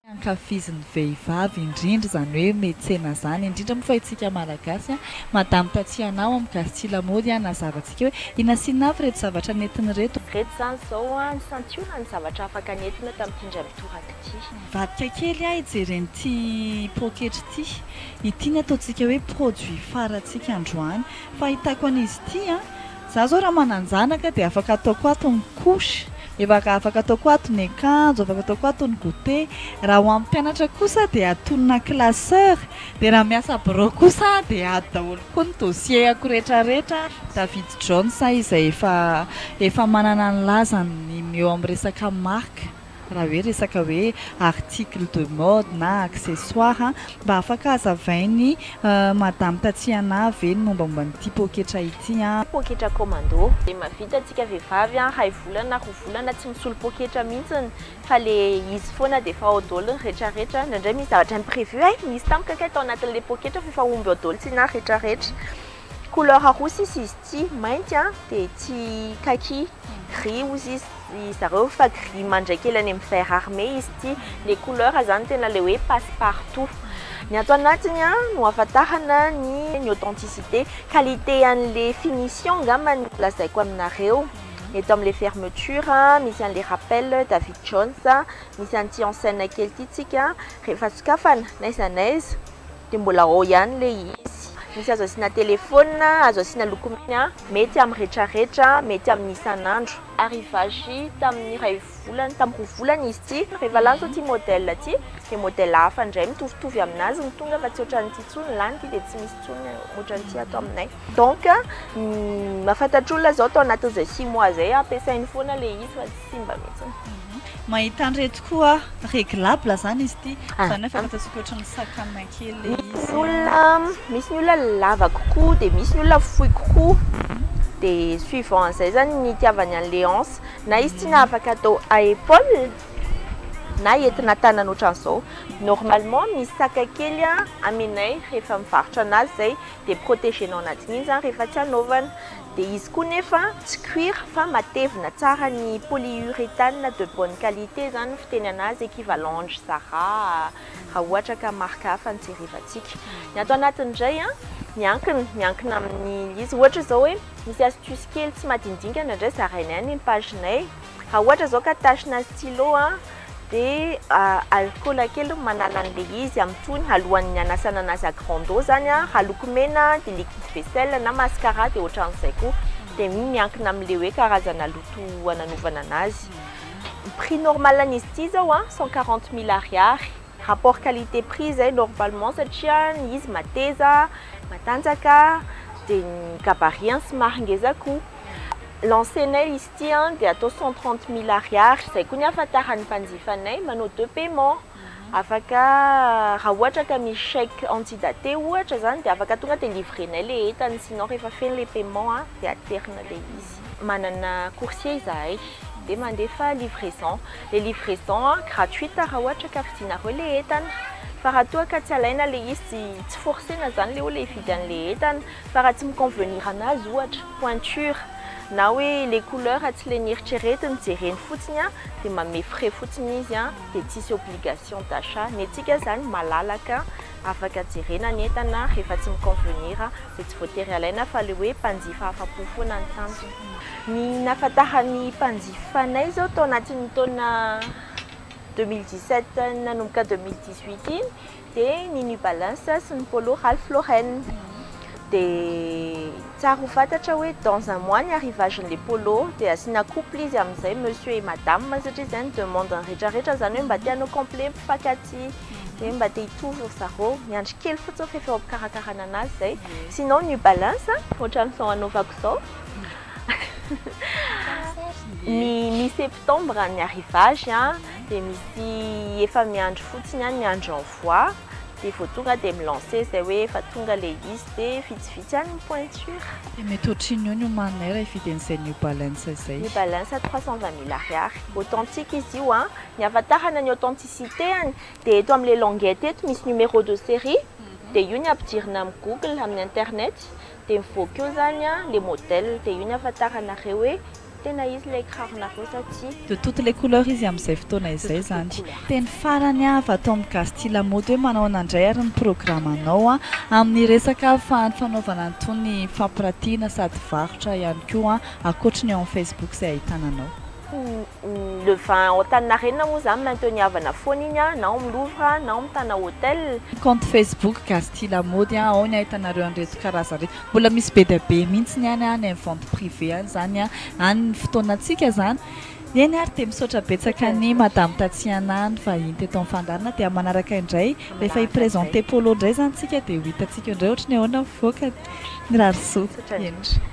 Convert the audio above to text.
tsy ankafizin'ny vehivavy indrindra izany hoe metsena izany indrindra moa fa itsika malagasy madame Tatiana ao amin'ny Gasity lamaody hanazava antsika hoe inona sy inona avy ireto zavatra nentiny ireto. Ireto izany izao ny santionany ny zavatra afaka nentina tamin'ity indray mitoraka ity. Nivadika kely aho hijery an'ity poketra ity, ity ny ataontsika hoe produit farantsika androany, fahitako an'izy ity an! Za zao raha mananjanaka dia afaka ataoko ato ny couche, efa afaka ataoko ato ny akanjo, afaka ataoko ato ny goûter, raha ho an'ny mpianatra kosa dia atonina classeur, dia raha miasa birao kosa aho dia ato daholo koa ny dossier-ako rehetrarehetra, David Jones izay efa efa manana ny lazany ny eo amin'ny resaka marque. raha hoe resaka hoe article de mode na accessoire mba afaka hazavainy madame Tatiana ve ny mombamomba an'ity poketra ity an? Poketra commando dia mahavita antsika vehivavy iray volana na roa volana tsy misolo poketra mihitsiny fa le izy foana dia efa ao daholo ny retraretra, indraindray misy zavatra imprevu, hay nisy tamiko kay tao anatin'le poketra f'efa omby ao daholo tsy inona ny retraretra. Couleur roa sisa izy ity, mainty an, dia ity kaki, gris hozy izy ry zareo fa gris mandray kely any amin'ny vert armé izy ity. Ilay couleur izany tena ilay hoe passe partout. Ny ato anatiny no ahafantarana ny ny authenticité. Qualité an'ilay finition angamba no lazaiko aminareo. Eto amin'ilay fermeture misy an'ilay rappel David Jones, misy an'ity enseigne kely ity tsika rehefa sokafana n'aiza n'aiza. Dia mbola ao ihany ilay izy. Misy azo asiana telefaonina, azo asiana lokomena, mety amin'ny retraretra, mety amin'ny isan'andro. Arrivage tamin'ny iray volana, tamin'ny roa volana izy ity. Rehefa lany izao ity modèle ity, dia modèle hafa indray mitovitovy amin'azy no tonga fa tsy ohatran'ity intsony. Lany ity dia tsy misy intsony ohatran'ity ato aminay. Donc, ny mahafantatr'olona izao tao anatin'izay six mois izay ampiasainy foana ilay izy fa tsy simba mihitsy. Mahita an'ireto koa aho, réglable zany izy ity, zany hoe afaka ataontsika ohatran'ny sac à main kely le izy. Misy ny olona, misy ny olona lava kokoa dia misy ny olona fohy kokoa, dia suivant an'izay zany ny itiavany an'ilay hanche, na izy ity na afaka atao à épaule na entina tanana ohatran'izao. Normalement misy sac kely aminay rehefa mivarotra an'azy izay dia protégé-nao anatin'iny zany rehefa tsy hanaovana. Dia izy koa nefa tsy cuir fa matevina tsara ny polyurethane de bonne qualité izany ny fitenana azy, equivalent an-dry Zara raha ohatra ka marque hafa no jerevantsika. Ny ato anatiny indray an, miankina, miankina amin'ny izy. Ohatra izao hoe misy astuce kely tsy madinidingana indray zarainay any amin'ny page-nay. Raha ohatra izao ka tachina stylo dia alikaola kely no manala an'ilay izy amin'ny tohiny alohan'ny hanasana an'azy à grande eau izany, aloky mena dia liquide vaisselle na mascara dia ohatran'izay koa, dia iny miankina amin'ilay hoe karazana loto hananovana an'azy. Ny prix normal an'izy ity izao an, cent quarante mille ariary. Rapport qualité prix izay normalement satria ny izy mateza, matanjaka, dia ny gabarit-ny somary ngeza koa. Lancer-nay izy. Ity an dia atao cent trente mille ariary, izay koa ny ahafantaran'ny mpanjifanay, manao deux paiement, afaka raha ohatra ka misy chèque antidaté ohatra izany dia afaka tonga dia livrenay ilay entana, sinon rehefa feno ilay paiement an dia aterina ilay izy. Manana coursier izahay dia mandefa livraison, ilay livraison an gratuite raha ohatra ka vidinareo ilay entana, fa raha toa ka tsy alaina ilay izy, tsy forcena izany ilay olona hividy an'ilay entana, fa raha tsy mi-convenir an'azy ohatra. pointure na hoe le couleur tsy le nieritreretiny jereny fotsiny a de manome frais fotsiny izy a de tsisy obligation d'achat ny antsika zany malalaka afaka jerena ny entana rehefa tsy mi convenir de tsy voatery alaina fa le hoe mpanjifa afapo foana ny tanjona. Ny nahafantaran'ny mpanjifa anay zao tao anatin'ny taona deux mille dix sept nanomboka deux mille dix huit iny Dia ny New Balance sy ny Polo Ralph Lauren. Dia tsara ho fantatra hoe dans un mois ny arrivage an'ilay Polo dia asiana couple izy amin'izay monsieur et madame satria izay no demande-n'ny rehetrarehetra izany hoe mba te hanao complet mpifaky aty dia mba te hitovy ry zareo. Miandry kely fotsiny fa efa eo am-pikarakarana anazy izay. Sinon New Balance ohatran'izao anaovako izao. Ny mi-septembre ny arrivage. dia misy efa miandry fotsiny any miandry envoi dia vao tonga dia mi-lancer izay hoe efa tonga ilay izy dia vitsivitsy any ny pointure. Dia mety ohatrin'ny eo ny omaninay raha hividy an'izay New Balance izay. New Balance trois cent vingt mille ariary. Authentique izy io an! Ny ahafantarana ny authenticité-any dia eto amin'ilay languette eto misy numéro de série dia io ny ampidirina amin'ny google, amin'ny internet, Dia mivoaka eo izany ilay modèle, dia io ny ahafantaranareo hoe tena izy ilay kiraronareo sa tsia. De toutes les couleurs izy amin'izay fotoana izay izany. Teny farany avy ato amin'ny Gazety Lamaody hoe manao ahoana indray ary ny programanao amin'ny resaka fanaovana an'itony fampiratiana sady varotra ihany koa ankoatry ny ao amin'ny Facebook izay ahitana anao. Le vin ao Antaninarenina moa zany maintenu havana foana iny an, na ao amin'ny Louvre na ao amin'ny Tana Hotel. Compte Facebook Gasty Lamaody an, ao ny ahitanareo an'ireto karazany ireto. Mbola misy be dia be mihitsy any an, any amin'ny vente privée any izany an, any ny fotoanantsika izany. Eny ary dia misaotra betsaka an'i Madame Tatiana nivahiny teto amin'ny fandaharana dia manaraka indray rehefa hi-presenter Polo indray izany isika dia ho hitantsika eo indray ohatry ny ahoana ny mivoaka. Mirary soa. Misaotra indrindra.